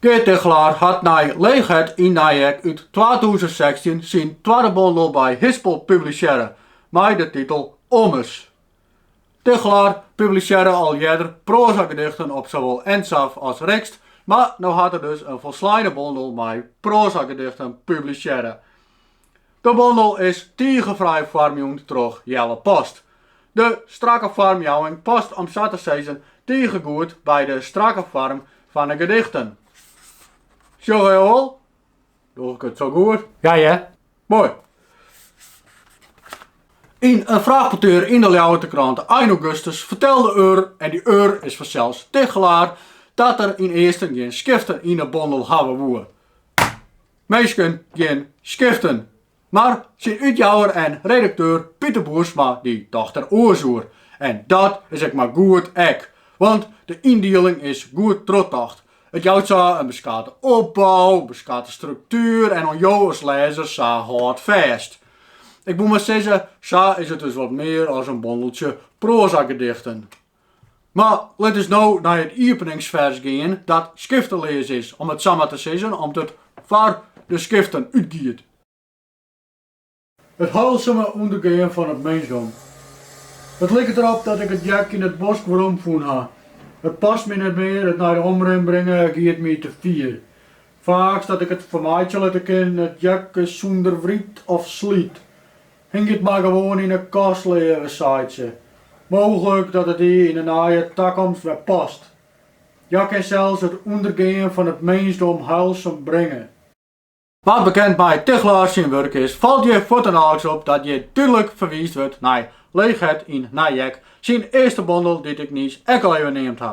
Geart Tigchelaar hat nei Leechheid yn Nijek út twatûzen sechstjin syn twadde bondel by Hispel publisearre mei de titel Ommers. Tigchelaar publisearre al earder proazagedichten op sawol Ensafh as RIXT, mar no hat er dus in folsleine bondel mei proazagedichten publisearre. De bondel is tige fraai foarmjûn troch Jelle Post. De strakke foarmjouwing past om sa te sizzen tige goed by de strakke foarm fan 'e gedichten. Sjoch wol? Doch ik it sa goed? Ja hear. Moai. Yn in fraachpettear yn de Ljouwerter Krante ein augustus fertelde er, en dy er is fansels Tigchelaar, dat er ynearsten gjin skiften yn 'e bondel hawwe woe. Minsken, gjin skiften. Mar syn útjouwer en redakteur Piter Boersma die docht der oars oer. En dat is ek mar goed ek, want de yndieling is goed trochtocht. It jout sa in beskate opbou, beskate struktuer en oan jo as lêzer sa hâldfêst. Ik wol mar sizze, sa is it dus wat mear as in bondeltsje proazagedichten. Mar lit ús no nei it iepeningsfers gean, dat skifteleas is, om it sa mar te sizzen, om't it foar de skiften útgiet. It heilsume ûndergean fan it minsdom. It liket der op dat ik it jak yn it bosk weromfûn ha. It past my net mear, it nei de omrin bringe giet my te fier. Faaks dat ik it fermeitsje litte kin, it jak is sûnder wryt of slyt. Hing it mar gewoan yn 'e kast, leave, seit se. Mooglik dat it dy yn 'e neie takomst wer past. Hja kin sels it ûndergean fan it minsdom heilsum bringe. Wa't bekend mei Tigchelaar syn wurk is, falt hjir fuortinoaks op dat hjir dúdlik ferwiisd wurdt nei Leechheid yn Nijek, syn earste bondel dy't ik niis ek al even neamd ha.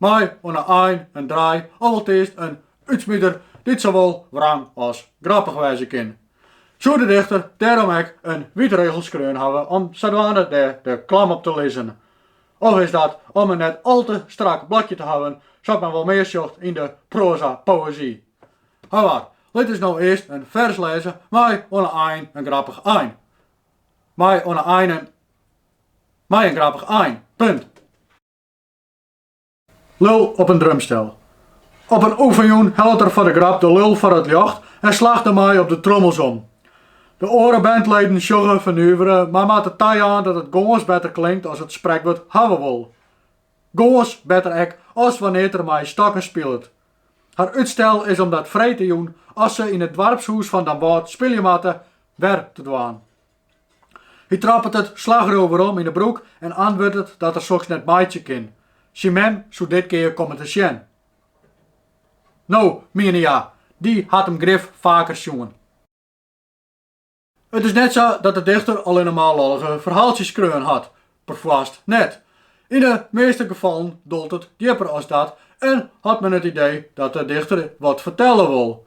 Mei oan 'e ein in draai of alteast in útsmider dy't sawol wrang as grappich wêze kin. Soe de dichter dêrom ek in wytrigel skreaun hawwe om sadwaande dêr de klam op te lizzen? Of is dat om in net al te strak blokje te hawwen, sa't men wol mear sjocht yn de proaza-poëzy? Hawar, lit ús no earst in fers lêze mei oan 'e ein in grappich ein. Mei oan 'e ein in. Mei in grappich ein. Punt. Lul op in drumstel. Op in oefenjûn hellet er foar de grap de lul foar it ljocht en slacht dermei op de trommels om. De oare bandleden sjogge fernuvere, mar moatte tajaan dat it gâns better klinkt as it sprekwurd hawwe wol. Gâns better ek as wannear't er mei stokken spilet. Har útstel is om dat freedtejûn, as se yn it doarpshûs fan Damwâld spylje moatte, wer te dwaan. Hy troppet it slachroer werom yn 'e broek en antwurdet dat er soks net meitsje kin. Syn mem soe dit kear komme te sjen. No, miene hja, dy hat him grif faker sjoen. It is net sa dat de dichter allinne mar lollige ferhaaltsjes skreaun hat, perfoarst net. Yn de measte gefallen dolt it djipper as dat en hat men it idee dat de dichter wat fertelle wol.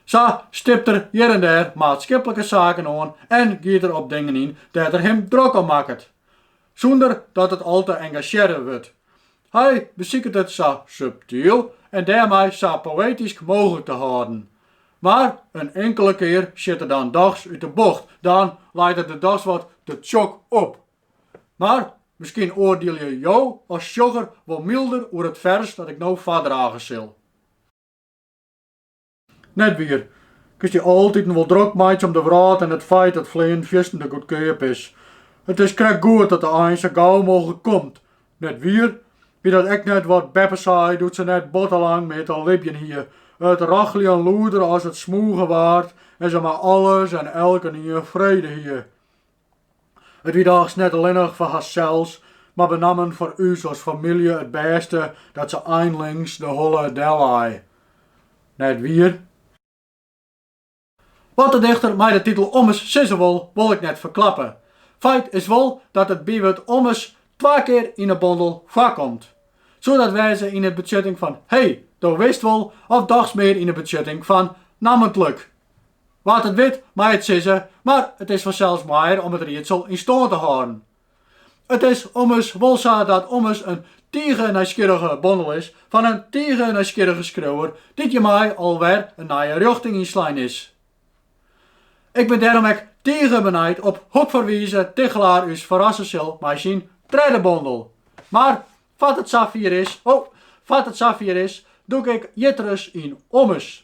Sa stipt er hjir en dêr maatskiplike saken oan en giet er op dingen yn dêr't er him drok om makket, sûnder dat it al te engasjearre wurdt. Hy besiket it sa subtyl en dêrmei sa poëtysk mooglik te hâlden. Mar in inkele kear sjit er dan dochs út 'e bocht, dan leit it der dochs wat te tsjok op. Mar miskien oardielje jo as sjogger wol mylder oer it fers dat ik no foardrage sil. Net wier. Kinst dy altiten wol drok meitsje om de wrâld en it feit dat fleanen fierstente goedkeap is. It is krekt goed dat de ein sa gau mooglik komt. Net wier. Wie dat ek net wat Beppe sei doe't se net botte lang mear te libjen hie. It rocheljen lûder as it smûgen waard en se mei alles en elkenien frede hie. It wie dochs net allinnich foar harsels, mar benammen foar ús as famylje it bêste dat se einlings de holle dellei, net wier. Wat de dichter mei de titel Ommers sizze wol, wol ik net ferklappe. Feit is wol dat it bywurd ommers twa kear yn 'e bondel foarkomt. Soe dat wêze yn 'e betsjutting fan 'hey, do witst wol' of dochs mear yn 'e betsjutting fan 'nammentlik, Wa't it wit, mei it sizze, mar it is fansels moaier om it riedsel yn stân te hâlden. It is ommers wol sa dat Ommers in tige nijsgjirrige bondel is fan in tige nijsgjirrige skriuwer dy't hjirmei al wer in nije rjochting ynslein is. Ik bin dêrom ek tige benijd op hokfoar wize Tigchelaar ús ferrasse sil mei syn tredde bondel. Mar foar't it safier is, dûk ik jitteris yn Ommers.